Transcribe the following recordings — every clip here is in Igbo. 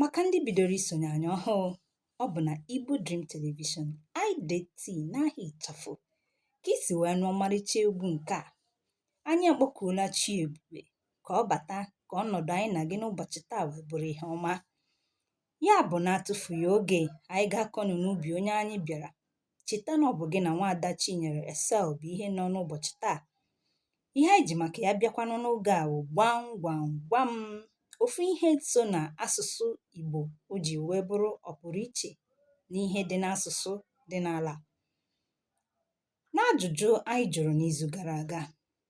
Maka ndị bidoro isonye anyị ọhụụ, ọ bụ na Igbo Dream Television, IDT n'aha ịchafụ ka i si wee nụ ọmarịcha egwu nke a. Anyị akpọkuola chi ebube ka ọ bata ka ọnọdụ anyị na gị n'ụbọchị taa wee bụrụ ihe ọma. Ya bụ na-atụfughị oge, anyị ga-akọnụ n'ubi onye anyị bịara cheta na ọ bụ gị na nwaada Chinyere Esel bụ ihe nọ n'ụbọchị taa ihe anyị ji maka ya bịakwanụ n'oge a bụ gwam gwam gwam ofu ihe so na asụsụ Igbo o ji wee bụrụ ọpụrụiche n'ihe dị n'asụsụ dị n'ala n'ajụjụ anyị jụrụ n'izu gara aga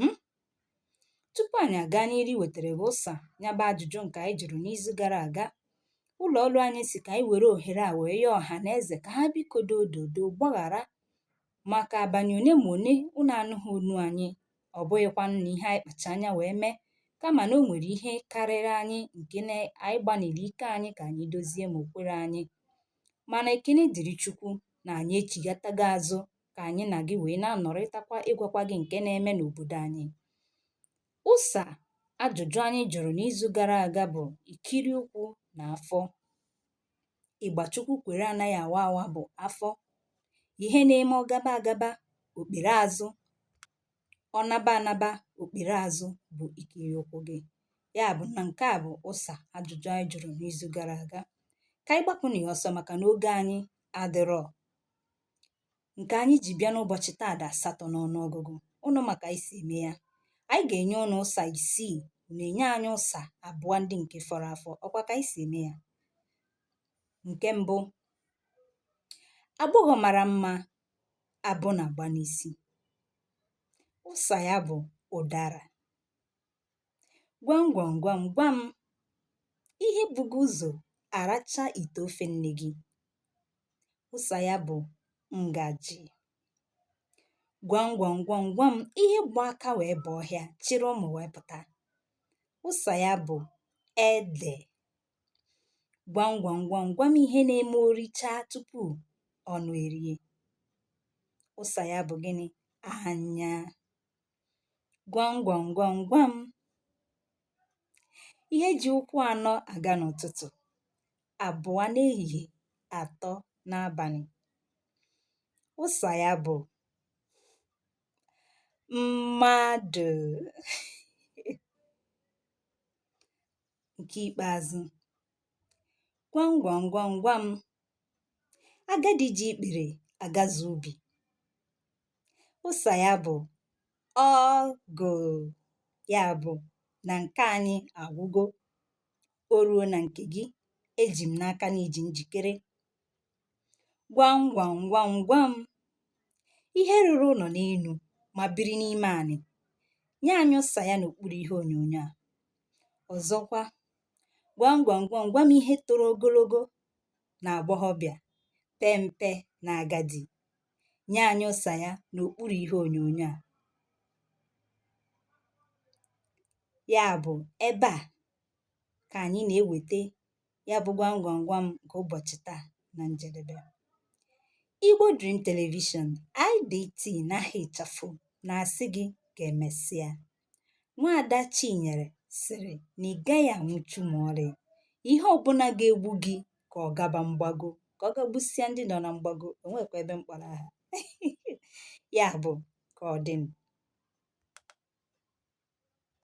um Tupu anyị aga n'iru iwetara gị ụsa ya bụ ajụjụ nke anyị jụrụ n'izu gara aga, ụlọ ọrụ anyị si ka anyị were ohere a wee yọọ ọha na eze ka ha biko dododo gbaghara maka abalị one ma one unu anụghị onu anyị, ọ bụghịkwanụ na ihe anyị kpacha anya wee mee, kama na o nwere ihe karịrị anyị nke na anyị gbanịrị ike anyị ka anyị dozie ma o kwerọ anyị. Mana ekele dịrị Chukwu na anyị echigatago azụ ka anyị na gị wee na-anọrịtakwa ịgwakwa gị nke na-eme n'obodo anyị ụsa ajụjụ anyị jụrụ n'izu gara aga bụ ikiri ụkwụ na afọ ịgba Chukwu kwere anaghị awa awa bụ afọ ihe na-eme ọ gaba agaba o kpere azụ ọ naba anaba o kpere azụ bụ ikiri ụkwụ gị ya bụ na nke a bụ ụsa ajụjụ anyị jụrụ n'izu gara aga ka anyị gbapụ na ya ọsọ maka na oge anyị adịrọ ǹkè anyị jì bịa n'ụbọ̀chị̀ taa dị̀ àsatọ n'ọnụ ọgụgụ ụnụ mà kà anyị sì ème ya anyị gà-ènye ụnụ ụsà ìsiì ùnù ènye anyị ụsà àbụọ ndị ǹke fọrọ afọ ọ kwa kà anyị sì ème ya ǹke mbụ agbọghọ̀ màrà mmā abụ nà-àgba n'isi ụsà ya bụ̀ ụ̀darà Gwam gwam gwam gwam, ihe bu gị ụzọ aracha ite ofe nne gị. Ụsa ya bụ ngaji. Gwam gwam gwam gwam, ihe gba aka wee baa ọhịa chịrị ụmụ wee pụta. Ụsa ya bụ ede. Gwam gwam gwam gwam, ihe na-eme o richaa tupu ọnụ erie. Ụsa ya bụ gịnị? Anya. Gwam gwam gwam gwam. Ihe ji ụkwụ anọ aga n'ụtụtụ, abụọ n'ehihie, atọ n'abalị. Ụsa ya bụ mmadụ. Nke ikpeazụ. Gwam gwam gwam gwam. Agadi ji ikpere agazu ubi. ụsa ya bụ ọgụ ya bụ na nke anyị agwụgo o ruo na nke gị eji m n'aka na i ji njikere gwam gwam gwam gwam ihe rụrụ ụlọ n'enu ma biri n'ime anị nye anyị ụsa ya n'okpuru ihe onyonyo a ọzọkwa gwam gwam gwam gwam ihe toro ogologo n'agbọghọ bịa pee mpe n'agadi nye anyị ụsa ya n'okpuru ihe onyonyo a ya bụ ebe a ka anyị na-eweta ya bụ gwam gwam gwam nke ụbọchị taa na njedebe Igbo Dream Television IDT n'aha ịchafụ na-asị gị ka emesịa Nwaada Chinyere sịrị na ị gaghị anwụchu ma ọlị. Ihe ọbụla ga-egbu gị ka ọ gaba mgbago, ka ọ ga gbusịa ndị nọ na mgbago, o nwekwa ebe m kpọrọ aha. Ya bụ, ka ọ dị m.